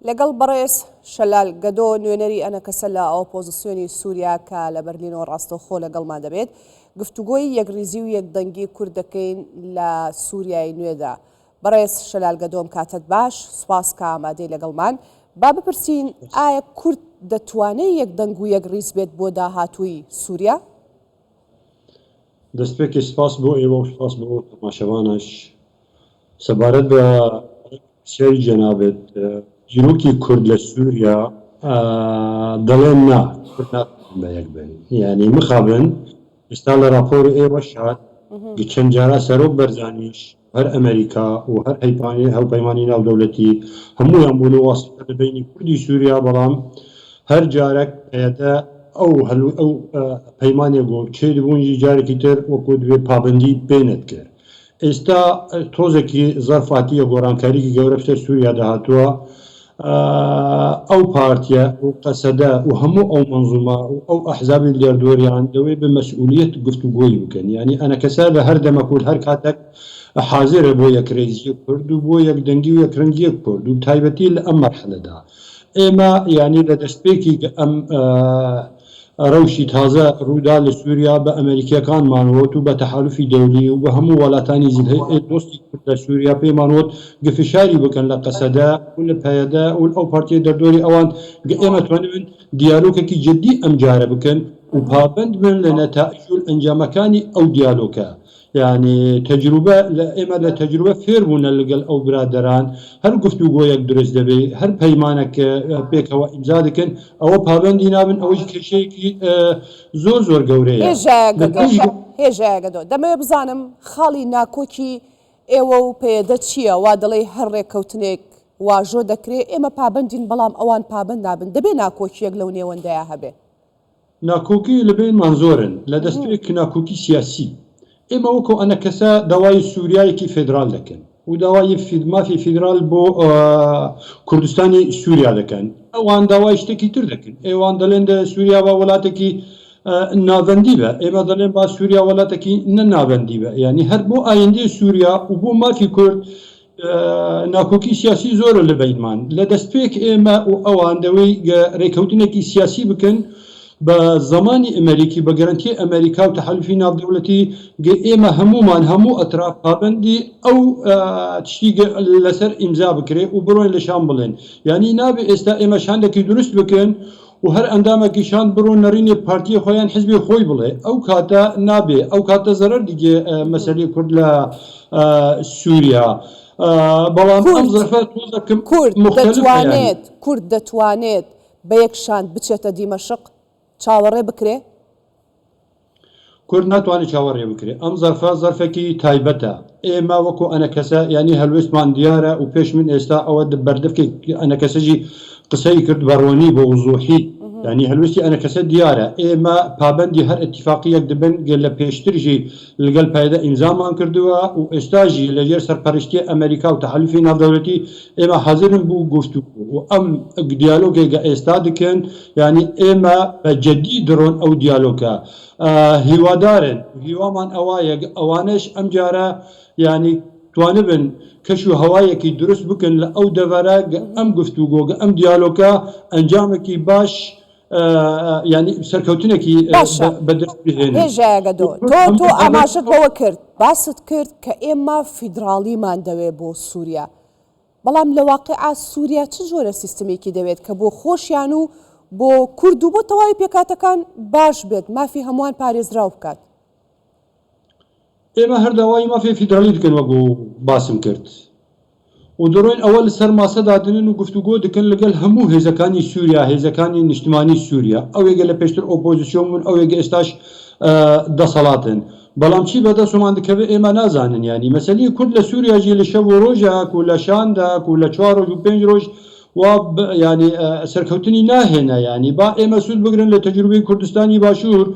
لەگەڵ بەڕێز شەلال گەدۆ نوێنەری ئەنەکەسە لە ئۆپۆزسیۆنی سووریا کە لە بەرلینەوە ڕاستەوخۆ لەگەڵمان دەبێت گفتوگۆی یەکریزی و یەکدەنگی کورد دەکەین لە سووریای نوێدا بەڕێز شەلال گەدۆم کاتت باش سوپاس کە ئامادەی لەگەڵمان با بپرسین ئایا کورد دەتوانێت یەکدەنگ و یەکریز بێت بۆ داهاتووی سووریا؟ دەستپێکی سپاس بۆ ئێوە و سپاس بۆ ئەو تەماشەوانەش سەبارەت بە پرسیاری جەنابت دیروکی کورد لە سوریا دەڵێن نا کورد ناتوانن بە یەک بن یانی مخابن ئێستا لە ڕاپۆری ئێوەش هات گچەند جارا سەرۆک بەرزانیش هەر ئەمەریکا و هەر هەوپەیمانی ناودەولەتی هەموویان بوون و واسیتە لە بەینی کوردی سوریا بەڵام هەر جارەک پەیەدە ئەو هەل و ئەو پەیمانێ گۆ چێ دبوون جی جارەکی تر وەکوو دبێ پابەندی پێ نەدکرد ئیستا تۆزەکی زەرفاتیە گۆرانکاریکی گەورە بسەر سوریا دەهاتووە ئەو پارتیە و قەسەدە و هەموو ئەو مەنزومە و ئەو ئەحزابی دەردۆریان دەوەی بە مەسئولیەت گفتوگۆی بکەن یانی ئەنەکەسە لە هەر دەمەک و هەر کاتەک حازرە بۆ یەکرێزیە کورد و بۆ یەکدەنگی و یەکرەنگیە کورد و تایبەتی لە ئەم مەرحەلەدا ئێمە یانی لە دەستپێکی ئەم رەوشی تازە روودا لە سووریا بە ئەمەریکییەکانمان ووت و بە تەحالوفی دەولی و بە هەموو وەلاتانی زلهئ دۆستی کورد لە سووریا پێمان ووت گە فشاری بکەن لە قەسەدە و لە پەیەدە و ئەو پارتییە دەردۆری ئەوان گە ئێمە توانیبن دیالۆکەکی جدی ئەمجارە بکەن و پابەند بن لە نەتائیج و ئەنجامەکانی ئەو دیالۆکە یانی تەجروبە لە ئێمە لە تەجروبە فێر بوونە لەگەل ئەو برادەران هەر گفتوگۆیەک دروست دەبێ هەر پەیمانەک پێکەوە ئیمزا دەکەن ئەوە پابەندی نابن ئەوەیش کێشەیەکی زۆر زۆر گەورەیە هێژایە لە گەدۆ پێش هێژایە گەدۆ دەمەوێ بزانم خاڵی ناکۆکی ئێوە و پەیەدە چییە وا دەڵێی هەر ڕێککەوتنێک واژۆ دەکرێ ئێمە پابەندین بەڵام ئەوان پابەند نابن دەبێ ناکۆکییەک لەو نێوەندەیا هەبێ. ناکۆکی لە بەینمان زۆرن لە دەستپێک ناکۆکی سیاسی. ئێمە وەکۆ ئەنەکەسە داوای سوریایەکی فێدرال دەکەن و داوای مافی فیدرال بۆ کوردستانی سوریا دەکەن. ئەوان داوای شتێکی تر دەکەن. ئەوان دەلێن دە سوریا با وەلاتەکی ناڤەندی بە. ئێمە دەلێن با سوریا وەلاتەکی نە ناڤەندی بە. یانی هەر بۆ ئایندەی سوریا و بۆ مافی کورد ناکۆکی سیاسی زۆرە لە بەینمان لە دەستپێک ئێمە و ئەوان دەوەی ڕێکەوتنێکی سیاسی بکەن بە زمانی ئەمریکی بە گەرنتی ئەمریکا و تحالفی ناودەولەتی گە ئێمە هەمومان هەموو ئەتراف پابندی ئەو تشتی لەسەر ئیمزا بکرێ و بڕۆین لە شان بڵێن یعنی نابێ ئێستا ئێمە شاندێکی دروست بکەن و هەر ئەندامەکی شاند بڕۆ نەڕینێ پارتیێ خۆ یان حزبێ خۆی بڵێ ئەو کاتە نابێ ئەو کاتە زەرەر دیگێ مەسەلەی کورد لە سووریا بەڵام ئەم زەرفە تۆزەکم کورد دەتوانێت کورد دەتوانێت بە یەک شاند بچێتە دیمەشق چاوەڕێ بکرێ؟ کورد ناتوانێ چاوەڕێ بکرێ. ئەم زەرفە زەرفێکی تایبەتە. ئێمە وەکوو ئەنەکەسە یانی هەلوێستمان دیارە و پێش من ئێستا ئەوە بەردەفکێک ئەنەکەسەجی قسەی کرد بە ڕۆنی بە وزووحی یانی هەلوێستی ئەنەکەسە دیارە. ئێمە پابەندی هەر ئێتیفاقییەک دبن گەر لە پێشترژی لگەل پەیەدە ئیمزامان کردووە و ئێستاژی لە ژێر سەرپەرشتیی ئەمەریکا و تەحەلوفی ناڤدەولەتی ئێمە حازرن بوو گوفتوگۆ و ئەم گدیالۆگێ گە ئێستا دکن یانی ئێمە بە جدی دڕۆن ئەو دیالۆکە هیوادارن و هیوامان ئەوایە ئەوانەش ئەم جارە یانی توانبن کەش و هەوایەکی دروست بکەن لە ئەو دەڤەرە گە ئەم گفتوگۆ گە ئەم دیالۆکە ئەنجامەکی باش یانی سەرکەوتنێکی باشە بە دەست بهێنن هێژا گەدۆ و تۆ هەموو تۆ ئەمە ئاماژەت بەوە کرد باست کرد کە ئێمە فیدڕاڵیمان دەوێ بۆ سووریا، بەڵام لە واقیعا سوریا چ جۆرە سیستمێکی دەوێت کە بۆ خۆشیان و بۆ کورد و بۆ تەواوی پێکهاتەکان باش بێت، مافی هەمووان پارێزراو بکات؟ ئێمە هەر داوای مافی فیدرالی دکەن وەک باسم کرد و دەڕۆین ئەوە لەسەر ماسە دادەنێن و گفتوگۆ دکەن لەگەل هەموو هێزەکانی سوریا، هێزەکانی نیشتمانی سوریا، ئەوێگە لە پێشتر ئۆپۆزسیۆن بوون ئەوێگە ئێستاش دەسەڵاتن. بەڵام چی بەدەسومان دکەوێ ئێمە نازانن یانی مەسەلی کورد لە سوریا جی لە شەو و رۆژاک و لە شانداک و لە چوار رۆژ و پێنج رۆژ وا یانی سەرکەوتنی ناهێنە یانی با ئێمە سود بگرن لە تەجروبەی کوردستانی باشور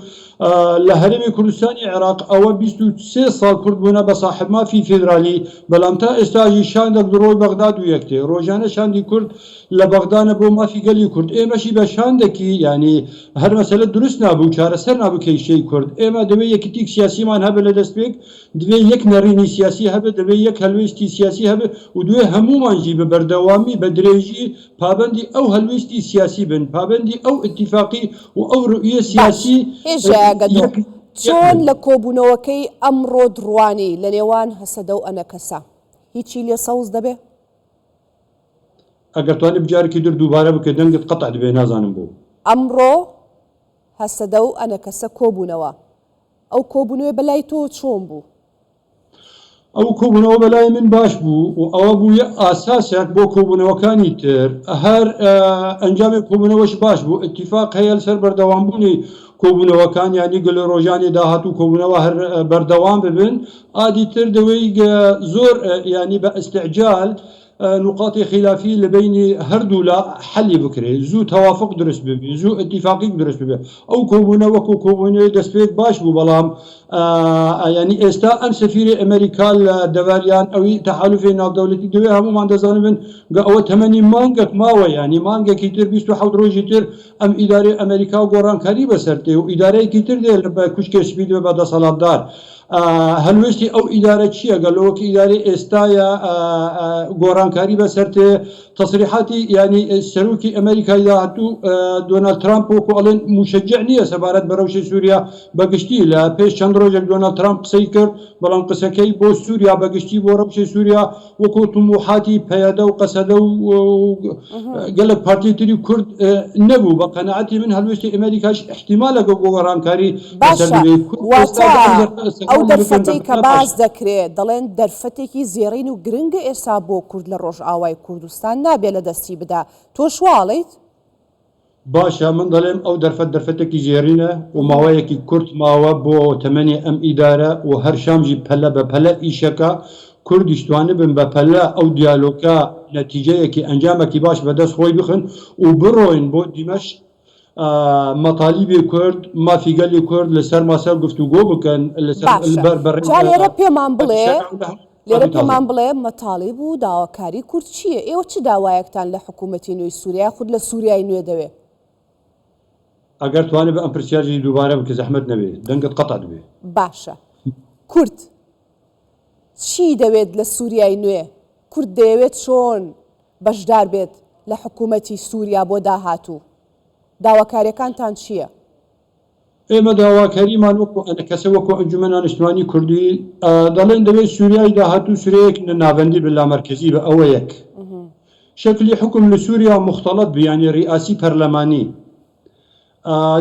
لە هەرێمی کوردستانی عێراق ئەوە بیست و سێ ساڵ کورد بونە بە ساحب مافی فیدرالی بەلام تا ئێستاژی شاندەک دڕۆی بەغداد و یەکتێ رۆژانە شاندی کورد لە بەغدا نە بۆ مافی گەلی کورد ئێمەشی بە شان دەکی یانی هەر مەسەلە دروست نابوو چارەسەر نابوو کێیشەی کورد ئێمە دەوێ یەکیتیک سیاسیمان هەبێ لە دەست پێک دوێ یەک نەڕینی سیاسی هەبێ دەوێ یەک هەلوێستی سیاسی هەبێ و دوێ هەموومان ژی بە بەردەوامی بە درێژی پابەندی ئەو هەلویستی سیاسی بن پابەندی ئەو ئتیفاقی و ئەو روئیە سیاسی چۆن لە کۆبوونەوەکەی ئەمڕۆت روانی لە نێوان هەسەدە و ئەنەکەسە هیچی لێ سەوز دەبێ؟ ئەگەر توانیت جارێکی در دووبارە بکەیت دەنگت قەتع دبێت نازانم بۆ. ئەمڕۆ هەسەدە و ئەنەکەسە کۆبوونەوە، ئەو کۆبوونەوەی بەلای تۆ چۆن بوو؟ ئەو کۆبوونەوە بەلای من باش بوو و ئەوە بوو یە ئاساسێک بۆ کۆبوونەوەکانی تر، هەر ئەنجامی کۆبوونەوەش باش بوو، ئیتیفاق هەیە لەسەر بەردەوامبوونی کۆبوونەوەکان، یانی گەل رۆژانی داهاتوو کۆبوونەوە هەر بەردەوام ببن، عادی تر دەوێیگ زۆر یانی بە ئیستعجال نقاطی خیلافی لە بەینی هەردوولا حەلی بکرێ زوو تەوافق دروست ببی زوو ئتیفاقیگ دروست ببێ ئەو کۆبوونە وەکوو کۆبوونەێ دەسپێد باش بوو بەڵام یانی ئێستا ئەم سەفیرێ ئەمەریکا لە دەڤەر یان ئەوی تەحالوفێ ناودەولەتی دەوێ هەموومان دەزانمن گە ئەوە تەمەنی مانگەک ماوە یانی مانگەکی تر بیست و حەوت ڕۆژی تر ئەم ئیدارەێ ئەمەریکا گۆڕانکاری بەسەر دێ و ئیدارەێکی تر دێ لە کوشکێ سپی دەێ بە دەسەڵاتدار ئا هەلوێستی ئەو ئیدارە چیە گە لۆ کە ئیدارەی ئێستا یا ئا ئا گۆرانکاری بە سەر تێ تەسریحاتی یانی سەروکی ئەمەریکای داهتوو دۆنالد ترامپ وەکو ئەڵێن موشەجع نیە سەبارەت بە رەوشی سووریا بە گشتی لە پێش چەند رۆژێک دۆنالد ترامپ قسەی کرد بەڵام قسەکەی بۆ سووریا بە گشتی بۆ رەوشی سووریا وەکو توموحاتی پەیەدە و قەسەدە و گەلک پارتی تری کورد نەبوو بە قەنەعەتی من هەلوێستی ئەمەریکاش ئیحتیمالە گەو بۆ وەرانکاری بەسەر باشە ببێت کورد ئێستا واتە دەڵێن دەرفەت ئەو ئەستەمۆڵی بکەن بە دەرفەتەی کە مەلا باس باشە دەکرێ دەڵێن دەرفەتێکی زێڕین و گرنگە ئێستا بۆ کورد لە ڕۆژئاوای کوردستان نابێ لە دەستی بدا تۆش وا ئەڵێیت؟ باشە من دەڵێم ئەو دەرفەت دەرفەتێکی زێڕینە و ماوەیەکی کورت ماوە بۆ تەمەنی ئەم ئیدارە و هەر شامژی پەلە بە پەلە ئیشەکە کوردیش توانیبن بە پەلە ئەو دیالۆکە نەتیجەیەکی ئەنجامەکی باش بە دەست خۆی بخن و بڕۆین بۆ دیمەشق مەتالیبی کورد مافی گەلی کورد لە سەر ماسە گفتوگۆ بکەن لە سەر باشە بەر بەڕێ جا لێرە پێمان بڵێ. لێرە پێمان بڵێ مەتاڵیب و داواکاری کورد چییە؟ ئێوە چ داوایەکتان لە حکوومەتی نوێی سووریا یا خود لە سووریای نوێ دەوێ؟ ئەگەر توانێ بە ئەم پرسیاجی دووبارە بکە زەحمەت نەبێ دەنگت قەتع دەبێ. باشە کورد چی دەوێت لە سووریای نوێ؟ کورد دەیەوێت چۆن بەشدار بێت لە حکوومەتی سووریا بۆ داهاتوو؟ داواکاریەکانتان چییە؟ ئێمە داواکاریمان وەکو ئەنەکەسە وەکو ئەنجومەن ئانشتمانی کوردی دەڵێن دەوێت سووریای داهاتوو سورەیەک نە ناڤەندی بە لامەرکزی بە ئەوە یەک شکلی حکم لە سووریا مختلط بیانی ریاسی پەرلەمانی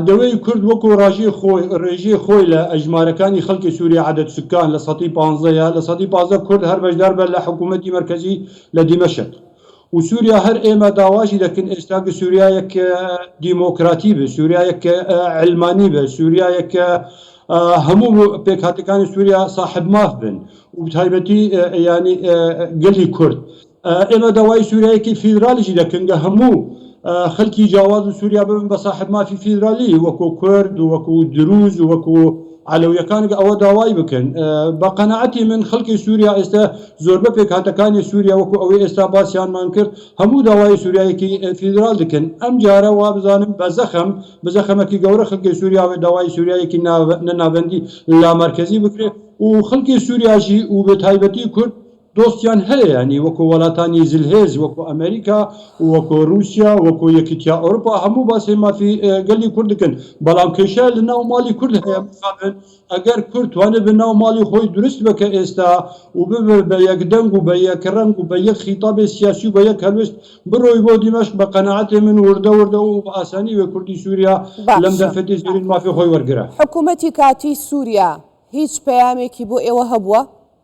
دەوێت کورد وەکو ڕژێ خۆی ڕێژێ خۆی لە ئەژمارەکانی خەڵکی سووریا عادەت سکان لە سەتی پانزەیە لە سەتی پازە کورد هەر بەشدار بە لە حکوومەتی مرکزی لە دیمەشق و سوریا هەر ئێمە داواشی دەکن ئێستا گ سوریایەک دیمۆکراتی بێ سوریایەک ک عەلمانی بێ سوریایەک ک هەموو پێکهاتەکانی سوریا ساحب ماف بن و بتایبەتی یانی گەلی کورد ئێمە داوای سوریایەکی فیدرالیشی دەکن گ هەموو خەلکی جاواز و سوریا ببن بە ساحب مافی فیدرالی وەکوو کورد و وەکوو دروز و وەکوو عەلەویەکان گە ئەوە داوای بکەن. بە قەناعەتی من خەلکی سوریا ئێستە زۆربە پێکهاتەکانی سوریا وەکو ئەوەی ئێستا باسیانمان کرد هەموو داوای سوریایەکی فیدرال دکەن ئەم جارە وابزانم بە زەخم بزەخەمەکی گەورە خەلکی سوریا وێ داوای سوریایەکی نە نابەندی لامەرکەزی بکرێ و خەلکی سوریاشی و بێ تایبەتی کورد دۆستیان هەیە یانی وەکۆ وەلاتانی زلهێز وەکۆ ئەمەریکا وەکۆ روسیا وەکۆ یەکیتیا ئەورپا هەموو باسی مافی گەلی کورد دکەن بەڵام کێشە لە ناو ماڵی کورد هەیە مخابن ئەگەر کورد توانێ بە ناو ماڵی خۆی دروست بە کە ئێستا و ببێ بە یەک دەنگ و بە یەک رەنگ و بە یەک خیتابێ سیاسی و بە یەک هەلوێست بڕۆی بۆ دیمەشق بە قەناعەتێ من وردە وردە و بە ئاسانی وێ کوردی سوریا لەم باشە دەرفەتی زێرین مافی خۆی وەرگرە. حکومەتی کاتی سوریا هیچ پەیامێکی بۆ ئێوە هەبووە؟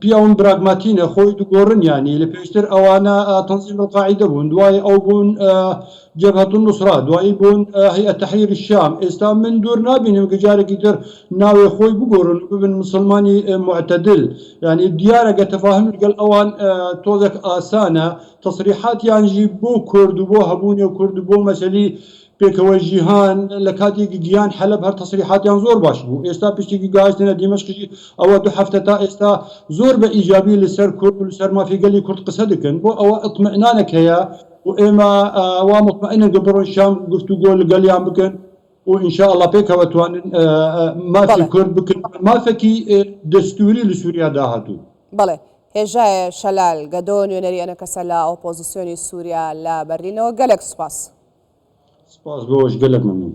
پیاون براگماتینە خۆی دوگۆڕن یانی لە پێشتر ئەوانە تەنزیم القاعدە بوون دوای ئەو بوون جبهة النصرة دوایی بوون هەیئە تحریر الشام ئێستا من دوور نابینم کە جارێکی تر ناوێ خۆی بگۆڕن ببن مسلمانی معتدل یعنی دیارە گە تەفاهم لەگەڵ ئەوان تۆزێک ئاسانە تصریحاتیانژی بۆ کورد و بۆ هەبوونی کورد و بۆ مەسەلی پێکەوەی جیهان لە کاتێکی گیان حەلەب هەر تەسریحاتیان زۆر باش بوو ئێستا پشتێکی گاهستێنە دیمەشقی ئەوە دو هەفتە تا ئێستا زۆر بە ئیجابی لەسەر کورد و لەسەر مافی گەلی کورد قسە دەکەن بۆ ئەوە ئیتمئنانێک هەیە و ئێمە وا موتمئنن کە بڕۆن شام گفتوگۆ لەگەلیان بکەن و ان شاء الله پێکەوە توانن مافی بەڵێ کورد بکەن مافێکی دەستووری لە سووریا داهاتوو. بەڵێ. هێژای شەلال گەدۆ نوێنەری ئەنەکەسە لە ئۆپۆزسیۆنی سوریا لە بەرلینەوە گەلەک سوپاس. سپاس بۆش گەلەک مەمنون.